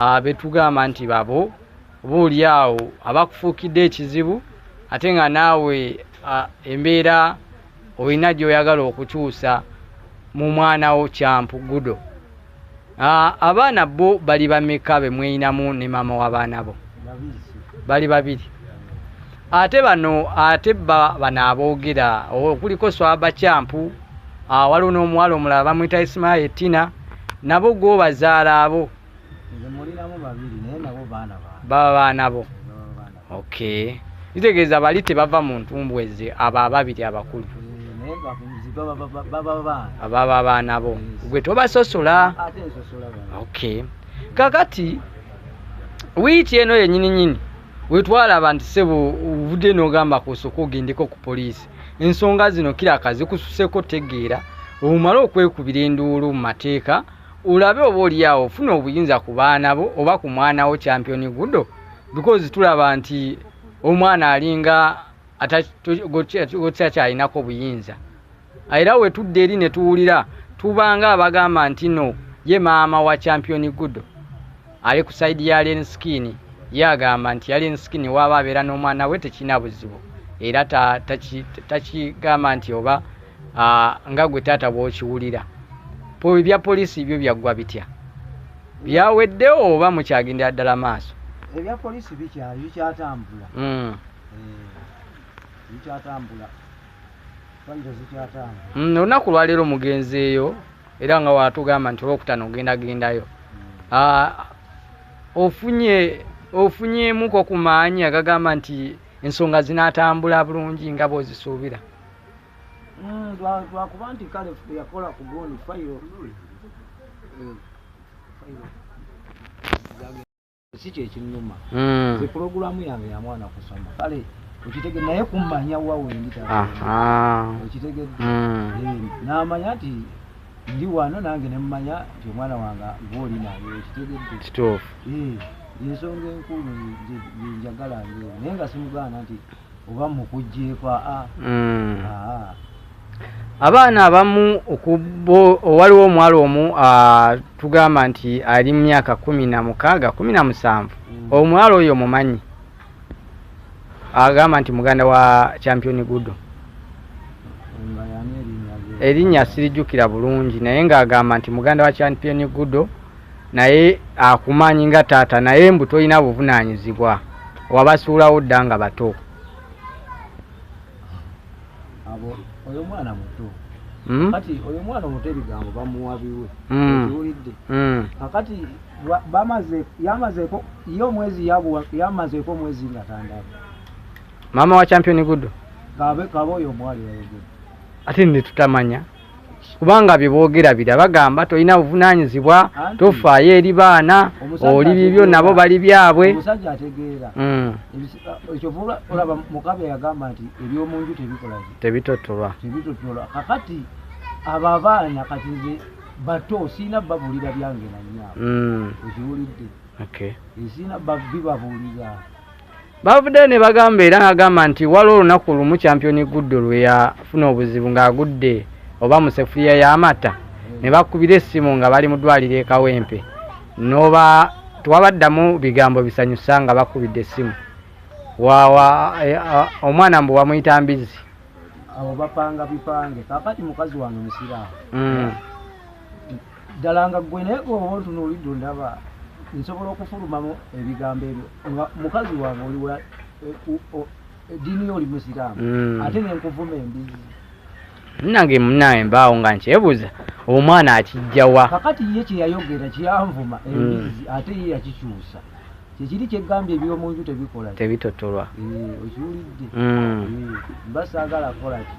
abetugamba nti babo buuli awo abakufuukidde ekizibu ate nga naawe embeera olina gyoyagala okukyusa mu mwana wo kyampu gudo abaana bo bali bameka bemweyinamu ne maama w'abaana bo bali babiri ate bano ate bano aboogera okuliko swaba kyampu waliwo n'omuwala omulala bamwita isimaye tina nabo gwobazaala abo baba baana bo okay kitegeeza bali tebava mu ntumbwe ze abo ababiri abakulu ababa abaana bo gwe tobasosola okay kakati wiiki eno yenyini nyini wetwalaba nti sebo ovudde nogamba kusoka ogendeko ku poliisi ensonga zino kiraka zikususeko tegeera omumale okwekubira enduulu mu mateeka olabe oba olyawo ofuna obuyinza ku baana bo oba ku mwana wo champion gudo because tulaba nti omwana alinga atakyakyayinako obuyinza era wetudde eri netuwulira tubanga abagamba nti no ye maama wa champion gudo ali ku sayidi ya Alien Skin ye agamba nti Alien Skin waaba abeera n'omwana we tekirina buzibu era takigamba nti oba nga gwe taata bw'okiwulira ebya poliisi byo byaggwa bitya byawedde oba mukyagendera ddala maaso ebya poliisi bikyali bikyatambula hmm. eh, bikyatambula Mm, olunaku lwaleero mugenzeeyo era nga watugamba nti olwokutano ogenda gendayo mm. ah, ofunye ofunyemuko ku maanyi agagamba nti ensonga zinatambula bulungi nga bwozisuubira mm, lwakuba nti kale yakola ku boni fayiro si kyekinnuma mm. ze pulogulaamu yange ya mwana kusoma kale okitege naye kummanya wa wendi okitegedde mm. eh, n'amanya nti ndi wano nange ne mmanya nti omwana wange gwoli naye okitegedde kituufu eh, ensonga enkulu yenjagala nge naye nga simugaana nti oba mukujjeeko aa mm. abaana abamu waliwo omuwala omu tugamba nti ali mu myaka kumi na mukaaga kumi na musanvu mm. omuwala oyo mumanyi agamba nti muganda wa championi gudo erinnya sirijjukira bulungi naye ng'agamba nti muganda wa championi gudo naye akumanyi nga taata naye mbu tolina buvunanyizibwa wabasuulawo dda nga bato oyo mwana muto hmm? kati oyo mwana omuto ebigambo bamuwabiwe hmm. iwulidde hmm. kakati yamazeko ye omwezi yamazeko omwezi nga tandaba maama wa champion gudo kabe kabe oyo omwali wayogedde ate netutamanya kubanga bye boogera bira bagamba tolina buvunaanyizibwa tofaayo eri baana oli bibyo nabo bali byabwe omusajja ategeera mm. ekyovuba olaba mukabe yagamba nti ebyomunju tebikola tebitotolwa tebitotolwa kakati abo abaana kati nze bato siina babuulira byange nanyabo mm. ekiwulidde siina bibabuulira Bavuddeyo ne bagamba era n'agamba nti waliwo olunaku lumu kyampiyoni Guddo lwe yafuna obuzibu ng'agudde oba mu sefuliya y'amata ne bakubira essimu nga bali mu ddwaliro e Kawempe n'oba tewabaddamu bigambo bisanyusa nga bakubidde essimu wawa eh, ah, omwana mbu wamuyita mbizi abo bapanga bipange kakati mukazi wange musiraamu mm. ddala nga gwe naye gwoba ontunuulidde ondaba nsobola okufulumamu ebigambo ebyo nga mukazi wange oli wa eddiini eh, yo oli musiraamu hmm. ate nenkuvuma embizi nange munaye mbaawo nga nkyebuuza omwana akijjawa kakati ye kyeyayogera kyanvuma hmm. embizi ate ye yakikyusa kyekiri kyegambye ebyomunju tebikola tebitotolwa eh, okiwulidde hmm. eh, mba saagala kolaki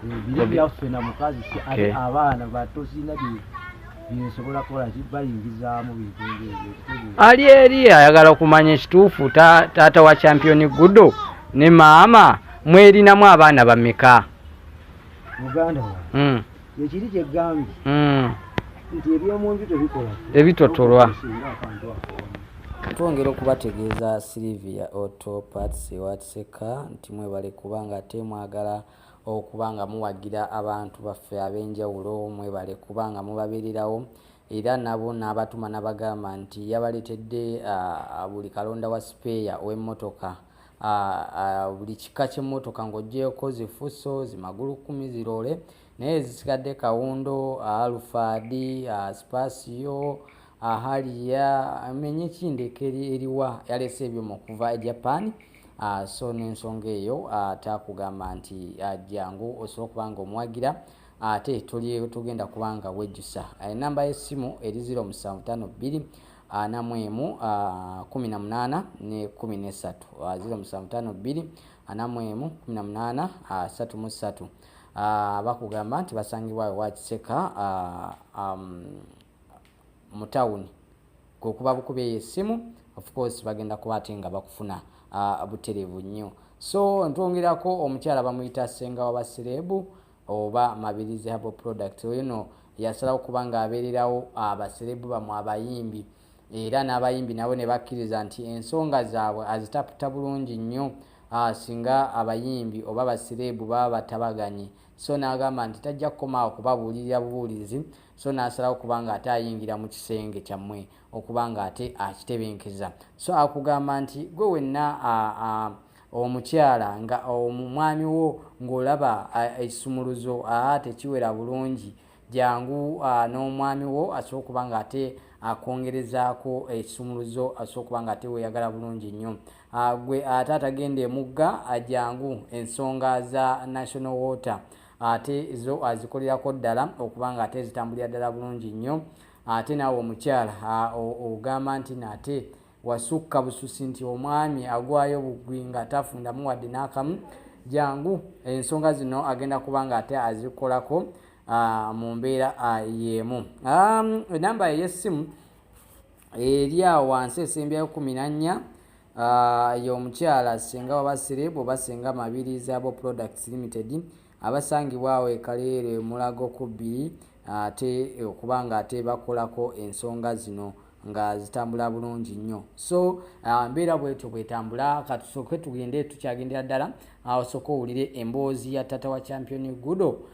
ebiro byaffe na mukazi ate abaana batosina byensobola kukola kibayingizaamu bintu ngebyo ali eri ayagala okumanya ekituufu taata wa champion gudo ne maama mwelinamu abaana bameka muganda wa hmm. ekiri kyegambye hmm. nti ebyomunju tebikola ebitotolwa twongera okubategeeza silivia oto pats ewatiseka nti mwebale kubanga ate mwagala okuba nga muwagira abantu baffe ab'enjawulo mwebale kuba nga mubabeererawo era nabo n'abatuma nabagamba nti yabaletedde buli kalonda wa sipeeya ow'emmotoka buli kika ky'emmotoka ng'ogyeko zifuso zimagulu kumi ziroole naye ezisigadde kawundo alufaadi sipasiyo ahaliya menye kindeka eriwa yalese ebyo mukuva e japan uh, so nensonga eyo uh, takugamba nti uh, jangu osobola okuba nga omuwagira ate uh, tuli tugenda kuba nga wejjusa enamba uh, y'essimu eri 0752 ana mu emu kumi na munaana ne kumi n'essatu ziro musanvu taano bbiri ana mu emu kumi na munaana satu mu ssatu bakugamba nti basangibwa ewa kiseka um, mu tawuni kwekuba bukuba eyo essimu of course bagenda kuba ate nga bakufuna uh, buterevu nnyo so ntwongerako omukyala bamuyita senga waba serebu oba mabirizi habo product oyo no yasalawo kuba nga abeererawo abaserebu bamwe abayimbi era n'abayimbi nabo ne bakkiriza nti ensonga zaabwe azitaputa bulungi nnyo Ah, singa abayimbi oba basireebu baba batabaganye so n'agamba nti tajja kukomaawo kubabuulirira bubuulizi so n'asalawo kuba nga ate ayingira mu kisenge kyammwe okuba nga ate akitebenkeza so akugamba nti gwe wenna omukyala nga omwami wo ng'olaba ekisumuluzo aa tekiwera bulungi jangu n'omwami wo asobola okuba nga ate akwongerezaako ekisumuluzo asobola okuba nga ate weyagala bulungi nnyo gwe ate atagenda emugga jangu ensonga za national water ate zo azikolerako ddala okuba nga ate zitambulira ddala bulungi nnyo ate naawe omukyala ogamba nti naate wasukka bususi nti omwami agwayo bugwi nga tafundamu wadde n'akamu jangu ensonga zino agenda kuba nga ate azikolako mu mbeera y'emu enamba ey'essimu eri awo wansi esembyayo kumi nannya Ah, ye omukyala singa waba sirebu oba singa mabirizi abo products limited abasangibwa awo ekaleero emulago ku bbiri ate okuba nga ate bakolako ensonga zino nga zitambula bulungi nnyo so ah, mbeera bwetyo bwetambula katusooke tugende tukyagendera ddala ah, osooke owulire emboozi ya tata wa champion gudo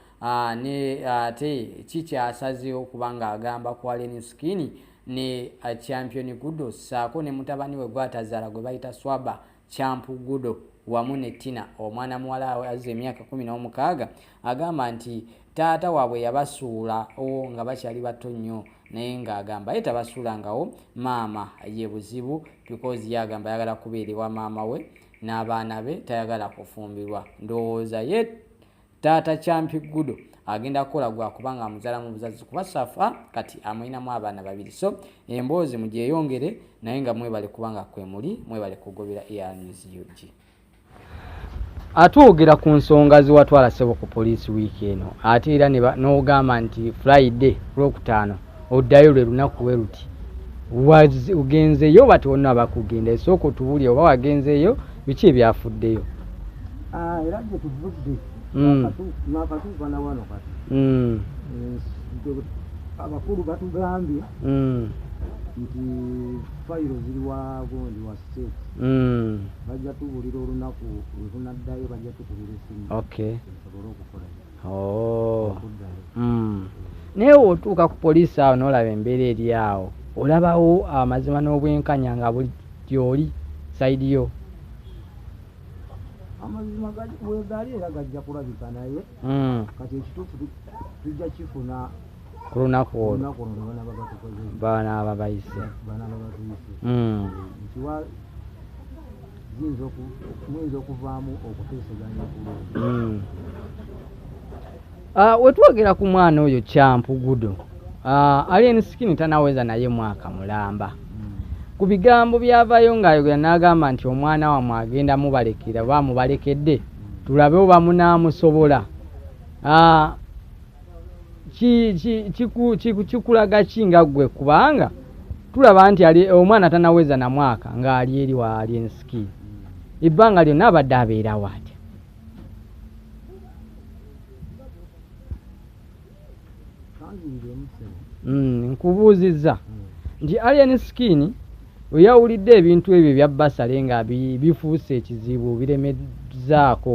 ne ate kikyasazeewo kubanga agamba kwaleni skini ne uh, champion gudo saako ne mutabani we gwatazaala gwe bayita swaba champu gudo wamu ne tina omwana muwala we aziza emyaka kumi n'omukaaga agamba nti taata waabwe yabasuula o nga bakyali bato nnyo naye ng'agamba ye tabasuulangawo maama ye buzibu bikozi ye agamba ayagala kubeera ewa maama we n'abaana be tayagala kufumbirwa ndowooza ye taata kyampi gudo agenda kukola gwakuba nga amuzala mu buzazi kuba safa kati amulinamu abaana babiri so emboozi mugyeyongere naye nga mwebale kuba nga kwemuli mwebale kugobera earns ug atwogera ku nsonga ziwatwala sebo ku poliisi wiiki eno ate era nogamba nti friday lwokutaano oddayo lwe lunaku we luti ogenzeyo oba tiwonna abakugendayo sooka otubuli oba wagenzeeyo biki ebyafuddeyo ah, era gye tuvudde hmm. nakatuuka na wano kati hmm. eh, abakulu batugambye hmm. nti fayiro ziri wagondi wa state bajja tubulira olunaku wetunaddayo bajja tukubira esimu osobole okukolayo oh. mm. naye otuuka ku poliisi awo n'olaba embeera eri awo olabawo amazima n'obwenkanya nga buli gyoli saidi yo amazima wegali era gajja kulabika naye mm. kati ekituufu tujja kifuna ku lunaku olwo banaaba bayise hmm. muyinza okuvaamu okuteeseganya kulungi hmm. ah, wetwogera ku mwana oyo kyampu gudo ah, alien skin tanaweza naye mwaka mulamba hmm. ku bigambo byavayo ngaayogera n'agamba nti omwana wamwe agenda mubalekera bamubalekedde tulabe oba munaamusobola ah, kikulaga ki nga ggwe kubanga tulaba nti ali omwana tanaweza na mwaka ng'ali eri waali ensiki ebbanga lyonna abadde abeera waatya hmm, nkubuuzizza nti alien skin weyawulidde ebintu ebyo ebya basale nga bifuuse ekizibu biremezzaako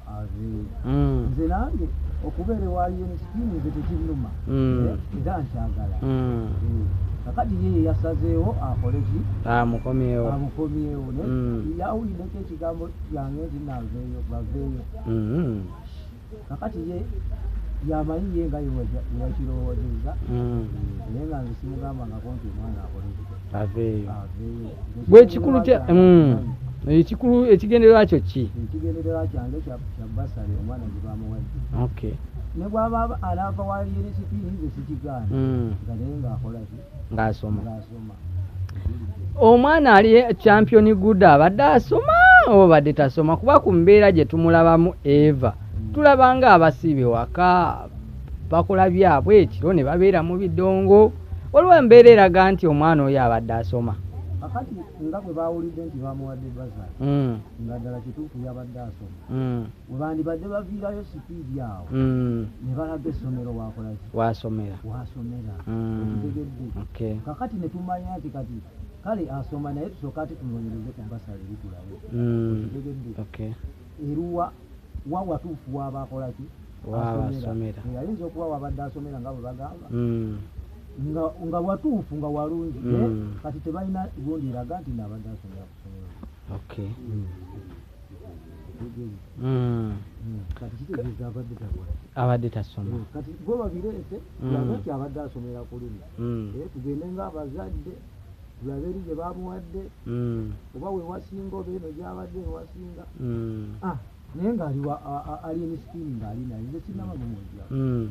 Mm. nze nange okubeera ewa unst nze tekinuma mm. eh, era nkyagala mm. eh, kakati ye yeyasazeewo akoleki amukomyewo amukomyewo naye yawulideko ekigambo kyange nti naveeyo baveeyo kakati ye yamanyi ye nga yewakirowozeza naye nga nze simugambangako nti omwana akoleki gwe ekikulu kya mm. ekikulu ekigendererwa kyo ki ekigendererwa kyange kya basale omwana gye bamuwadde okay ne bwaba alaava wali erisiki nze sikigaana mm. nga naye ng'akolaki ng'asoma ng'asoma omwana ali champion good abadde asoma oba badde tasoma kuba ku mbeera gye tumulabamu eva mm. tulabanga abasiibe waka bakola byabwe ekiro ne babeera mu bidongo waliwo embeera eraga nti omwana oyo abadde asoma akati nga bwe bawulidde nti bamuwadde baza hmm. nga ddala kituufu yabadde asoma hmm. webandibadde baviirayo sipiidi awo hmm. ne balaga essomero wakolaki wasomera wasomera okitegedde kakati ne tumanya nti kati kale asoma naye tusooka ati tunoonyereze ku basale bitulayo okitegedde eruwa wa watuufu waaba akola ki asomera eyayinza okuba wabadde asomera nga bwe bagamba hmm. nga watuufu nga walungi hmm. kati tebalina gundi eraga nti naabadde asomera kusomera hmm. abadde tasoma kati gwe babireete laga nti abadde asomera kulimi eh, tugende nga abazadde Bwaberi gye bamuwadde mm. oba wewasinga oba eno gyabadde ewasinga mm. ah, naye nga ali emisitini ngaali naye nze sinaba mumwejja mm.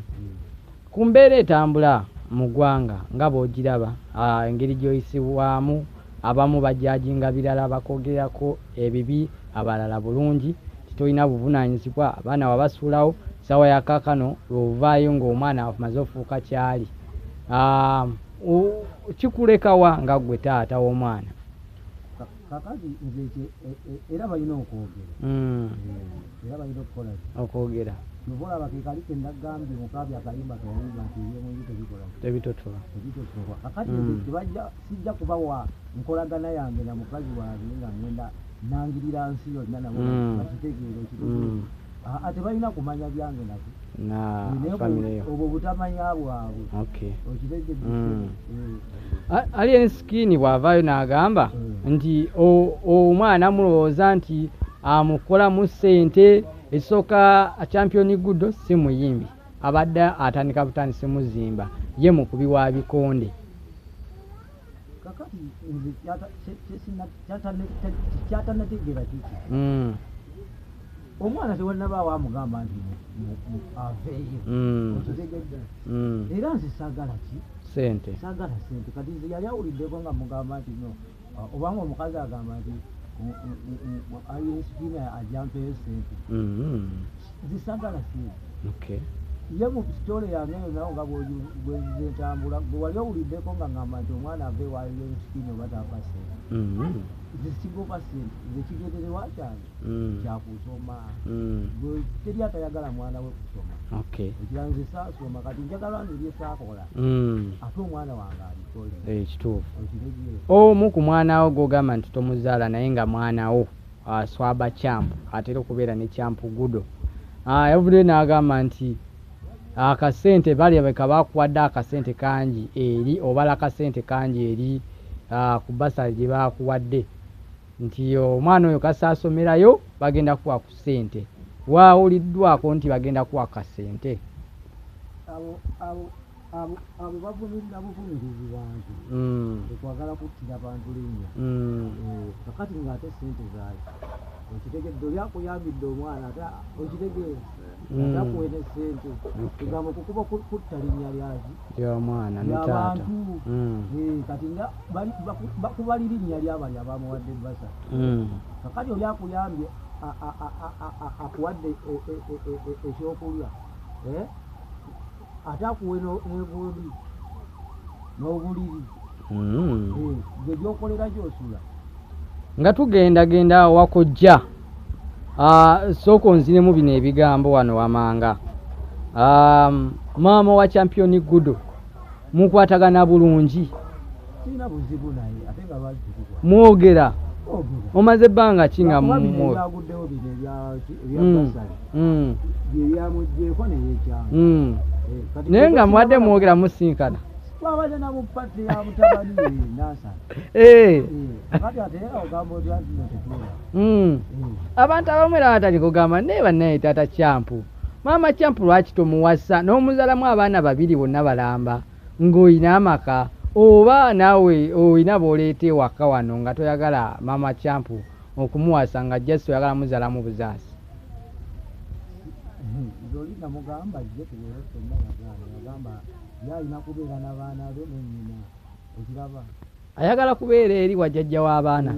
ku mbeera etambula mu ggwanga nga bwogiraba ah, engeri gyoyisibwamu abamu bajajinga birala bakogerako ebibi abalala bulungi titolina buvunanyizibwa abaana wabasuulawo sawa yakakano lwovaayo ngaomwana amaze ofuuka kyali ah, kikulekawa nga gwe taata w'omwana kakati nze e, e, era balina okwogera hmm. eh, era balina okukola okwogera novolaba kekali kendagambye mukabi akayimba kayimba nti ebyomunju tebikola tebitotola tebitotola kakati hmm. tebajja sijja kubawa nkolagana yange na mukazi wange nga ngenda nangirira nsi yonna nabo bakitegeera hmm. ekituufu aa tebalina kumanya byange nate obwo butamanya bwabwe okitegede mm. eh. ali ensikini bwavaayo n'agamba mm. nti omwana mulowooza nti amukolamu ssente ekisooka champion gudo si muyimbi abadde atandika butandisi muzimba ye mukubi wa bikonde kakati nze kyatanategeera kiki mm. omwana tewanabaawo amugamba nti aveeyo mm. okitegedde mm. era nze saagala ki sente saagala sente kati nze yali awuliddeko nga mugamba nti no uh, obanga omukazi agamba nti uh, uh, ayinsipina ajampeyo sente mm-hmm. zisagala sina okay ye mu sitole yange yona nga bwezentambula gwewali owuliddeko nga ngamba nti omwana ava ewaliyo esikini oba tafa sente mm-hmm. zisigoba sente zekigenderewa kyange mm. kyakusoma mm. teri atayagala mwana we kusoma ekiranze sasoma kati njagala nze byesakola mm. ate omwana wange alikole eh, ekituufu omu ku mwanawo gwogamba nti tomuzaala naye nga mwanawo uh, Swaba Champ atera okubeera ne Champ Gudo uh, yavuddeyo n'agamba nti akasente uh, balya beka bakuwadde akasente kangi eri obala akasente kangi eri uh, ku basale gye bakuwadde nti omwana oyo kasi asomerayo bagenda kuwa ku sente waawuliddwako nti bagenda kuwa kasente abo bavumirira buvumirizi bantu mm. ekwagala kuttira bantu linnya mm. eh, kakati ngaate sente zaayo okitegedde oli akuyambidde omwana ate okitegeera mm. ate akuwere sente egambo kukuba kutta linnya lyaki lyomwana lyabantu eh, kati nga bakuba lirinnya lyabali abamuwadde basa kakati oli akuyambye akuwadde e, e, e, ekyokulya eh? ate akuwe n'engundi n'obuliri hmm. gye gyokolera gyosula nga tugendagenda wakojja ah, sooka onzinemu bino ebigambo wano wamanga ah, maama wa championi gudo mukwatagana bulungi mwogera omaze ebbanga ki nga mumwaguddewo bino ebyabasaale hmm. hmm. byebyamugyeko neyekyama hmm. eh, naye nga mwadde mwogera musinkana twabadde namu pati ya mutabani nasana eh. eh, kati ate ogamba oti atino tetuula abantu abamu era batali kugamba naye banaye tata kyampu maama kyampu lwaki tomuwasa n'omuzalamu abaana babiri bonna balamba Ng'olina amaka oba naawe olina b'oleeta ewaka wano nga toyagala Maama Camp okumuwasa nga just oyagala muzaalamu buzaasi. Zoli namugamba ajje tubeere ffenna yagaana. Yagamba ye alina kubeera na baana be ne nnyina. Okiraba? Ayagala kubeera eri wa jajja w'abaana.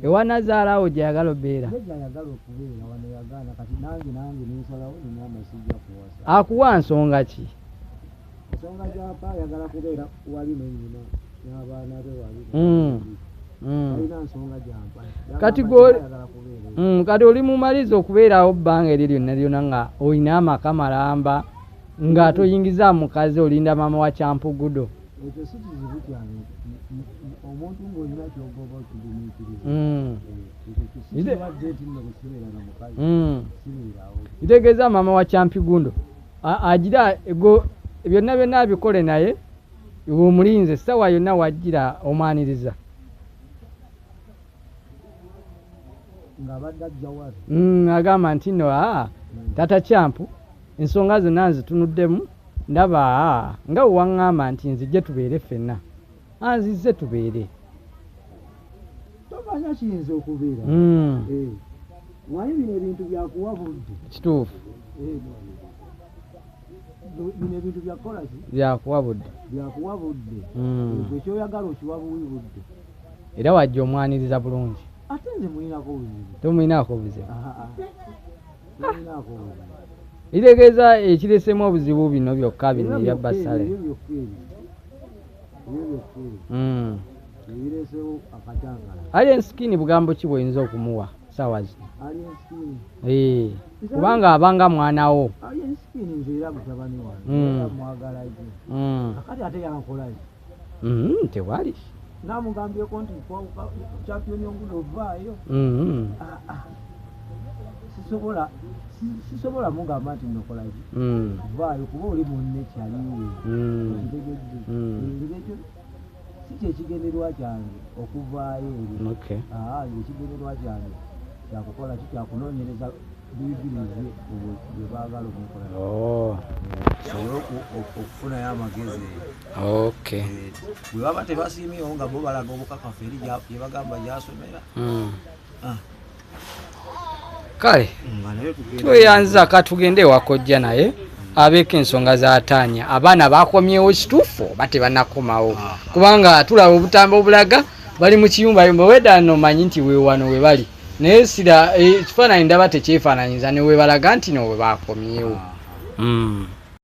Ewa nazaala awo gye yagala obeera. Akuwa nsonga ki? Nsonga gyapa ayagala kubeera wali ne nyina n'abaana be wali. Hmm. Hmm. Kati gwe hmm, kati oli mumaliza okubeerawo bbanga eryo lyonna lyonna nga olina amaka malamba. nga toyingiza mukazi olinda mama wa kyampugudo ekyo si kizibu kyange omuntu ngaolina kyogoba okigumiikiriza hmm. kitegeeza hmm. maama wa kyampigundo agira ego byonna byonna abikole naye omulinze sawa yonna wagira omwaniriza hmm, agamba nti no a tata kyampu Ensonga zonna nzitunuddemu ndaba nga bwe waŋŋamba nti nzijje tubeere ffenna. Anzizze tubeere. Tomanya kiyinza okubeera. Hmm. Eh, Waye bino ebintu byakuwa budde. Kituufu. Eh, bino ebintu byakukola ki? Byakuwa budde. Byakuwa budde. Hmm. Ekyo kyoyagala okiwa buwi budde. Era wajja omwaniriza bulungi. Ate nze mulinako buzibu. Tomulinako buzibu. litegeeza ekiresemu obuzibu bino byokka bino ebya basale hmm. ali ensikini bugambo ki bwoyinza okumuwa saawa zino eh, kubanga abanga mwana wo hmm. hmm. Mm-hmm, tewali namugambyeko nti champion ongulo ovaayo mm-hmm. ah, ah. sisobola sisobola mugamba nti nokolaki mm. vaayo kuba oli munne kyaliwe mm. okitegedde mm. ekyo si kyekigenderwa kyange okuvaayo ebyo ah, ekigenderwa kyange kyakukola ki kyakunonyereza buyigirize bwebagala omukola oh. okufuna yo amagezi Eh, bwebaba tebasiimyewo nga bo balaga obukakafu eri gyebagamba gyasomera hmm. ah. kale hmm, tweyanza katugende ewakojja naye abeeko ensonga zataanya abaana bakomyewo kituufu oba tebanakomawo ah, ah. kubanga tulaba obutambo obulaga bali mu kiyumba yumba weda nomanyi nti wewano we bali naye sira eh, ekifaananyi ndaba tekyefaananyiza ne webalaga nti no we bakomyewo hmm.